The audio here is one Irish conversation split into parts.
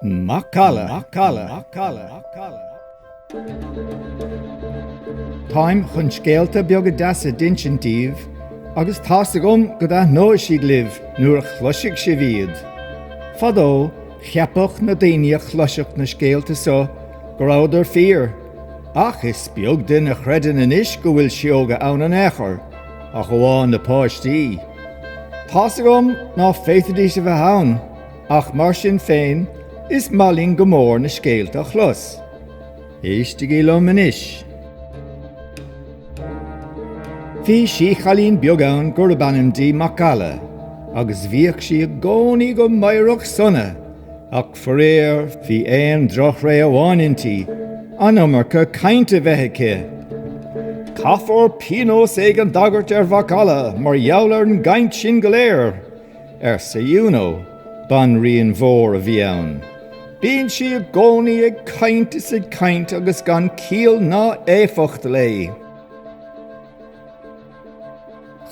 Macalla, macalla, macalla, macalla. Táim chun scéalta beaga deasa d'insint daoibh agus tá's agam go dtaitneoidh siad libh nuair a chloisfidh sibh iad. Fadó, Cheapfadh na daoine a chloisfeadh na scéalta so go rabhadar fíor, ach is beag duine a chreideann anois go bhfuil sióga ann in aon chor, ach amháin na páistí. Tá's agam ná féadfaidís a bheith ann, ach mar sin féin is maith linn go mór na scéalta a chlos. Éistigí liom anois. Bhí síchailín beag ann gurab ainm dí Macalla agus bhíodh sí i gcónaí go meidhreach sona ach faraor bhí aon droch-thréith amháin inti, an iomarca cainnte bheith aici. Caithfear píonós éigin d'agairt ar Mhacalla mar gheall ar an gcainnt sin go léir. arsa Iúnó. Banríon mhór a bhí ann. Bíonn sí i gcónaí ag caint is ag caint agus gan ciall ná éifeacht léi.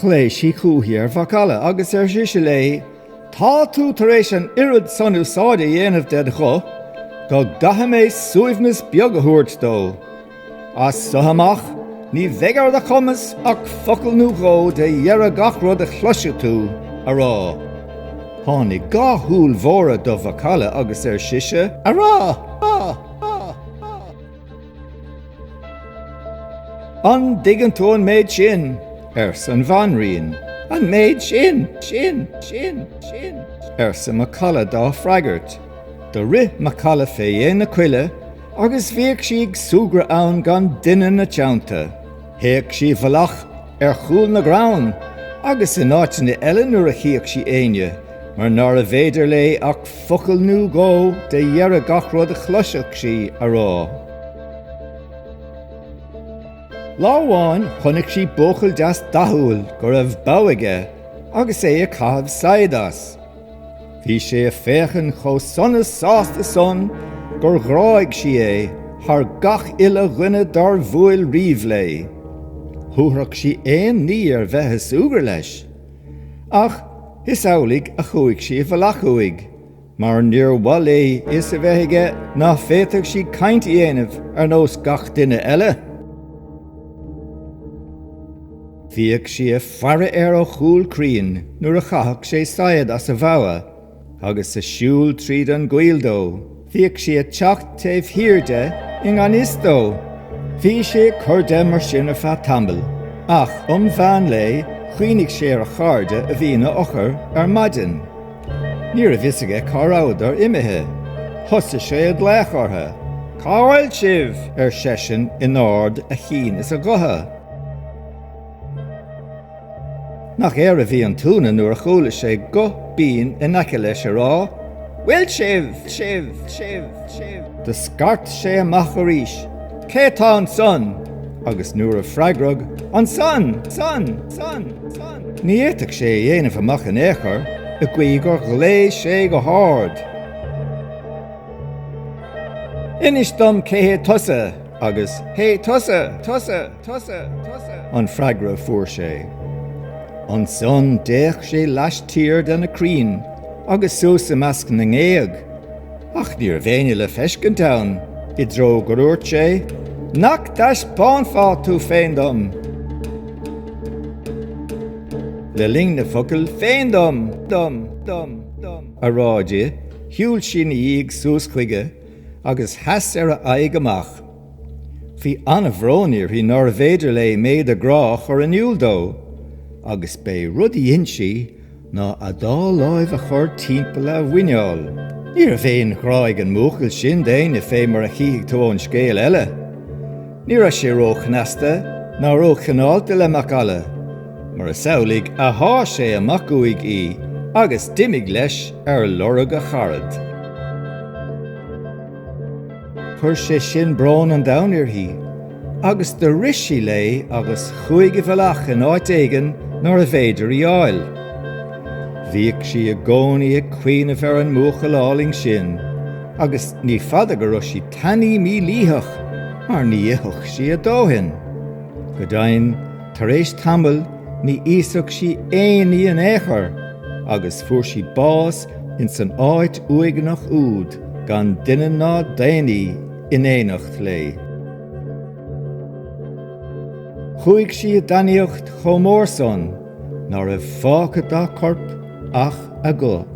Ghlaoigh sí chúithi ar Mhacalla agus ar sise léi, Tá tú tar éis an oiread san úsáide a dhéanamh ded ghuth go gcaithfidh mé suaimhneas beag a thabhairt dó. As so amach, ní bheidh ar do chumas ach focal nó dhó de dheireadh gach rud a chloisfidh tú a rá. Tháinig dhá shúil mhóra do Mhacalla agus ar sise. A rá! A rá! A rá! An dtuigeann tú an méid sin? arsa an Bhanríon. An méid sin! sin! sin! sin! arsa Macalla dá freagairt. Do rith Macalla fé dhéin na coille. Agus bhíodh sí ag súgradh ann gan duine 'na teannta. Théadh sí i bhfolach ar chúl na gcrann, agus in áiteanna eile nuair a chíodh sí éinne, mar nárbh fhéidir léi ach focal nú dhó de dheireadh gach rud a chloiseadh sí a rá. Lá amháin chonaic sí buachaill deas dathúil go raibh bogha aige agus é ag caitheamh saighead as. Bhí sé a féachain chomh sona sásta san gur ghráigh sí é thar gach uile dhuine dár bhuail riamh léi. Thabharfadh sí aon ní ar bheith a súgradh leis. Ach is amhlaidh a chuaigh sí i bhfalach uaidh, mar níor mhaith léi fhios a bheith aige ná féadfadh sí cainnt a dhéanamh ar nós gach duine eile. Bhíodh sí ag faire air ó chúl crainn nuair a chaitheadh sé saighead as a bhogha agus sa siúl tríd an gcoill dó. Bhíodh sí ag teacht taobh thiar de i ngan fhios dó. Bhí sé ag cur de mar sin ar feadh tamaill, ach um mheán lae chuimhnigh sé ar a chairde a bhí ina fhochair ar maidin. Ní raibh fhios aige cá rabhadar imithe. Thosaigh sé ag glaoch ortha. Cá bhfuil sibh? ar seisean in ard a chinn is a ghutha. Nach air a bhí an t-ionadh nuair a chuala sé guth binn in aice leis ag rá Bhfuil sibh, sibh, sibh, sibh. Do scairt sé amach arís Cé tá ansan? agus nuair a freagraíodh Ansan, san, san, san. Ní fhéadfadh sé a dhéanamh amach in ao'chor i gcaoi gur ghlaoidh sé go hárd. Inis dom cé hé tusa? Agus Hé tusa! Tusa! Tusa! Tusa! an freagra a fuair sé. Ansan d'fhéach sé laistiar de na crainn agus suas i measc na ngéag, ach ní raibh éinne le feiscint ann, i dtreó go nduairt sé, Nach dtaispeánfá tu féin dom! Le linn na focail féin dom! dom! dom! dom! a rá di, shiúil sí 'na dhiaidh suas chuige, agus sheas ar a aghaidh amach. Bhí an-bhrón uirthi nárbh fhéidir léi méid a grá a chur in iúl dó, agus b'é rud a dhein sí ná a dá láimh a chur timpeall a mhuineál. Ní raibh aon ghrá ag an mbuachaill sin d'éinne fé mar a chífidh tú ón scéal eile. Ní raibh sé ró-chneasta ná ró-chineálta le Mac Alla. Mar is amhlaidh a sháith sé amach uaidh í agus d'imigh leis ar lorg a charad. Chuir sé sin brón an domhain uirthi, agus do rith sí léi agus chuaigh i bhfolach in áit éigin nárbh fhéidir í fháil. Bhíodh sí i gcónaí ag cuimhneamh ar an mbuachaill álainn sin, agus ní fada go raibh sí tanaí mílítheach mar ní itheadh sí a dóthain. Go deimhin, Tar éis tamaill ní íosfadh sí aon ní in ao'chor agus fuair sí bás ins an áit uaigneach úd gan duine ná daonnaí in éineacht léi. Chuaidh sí i dtanaíocht chomh mór san ná raibh fágtha dá corp ach a guth.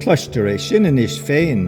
Cloistear é sin anois féin.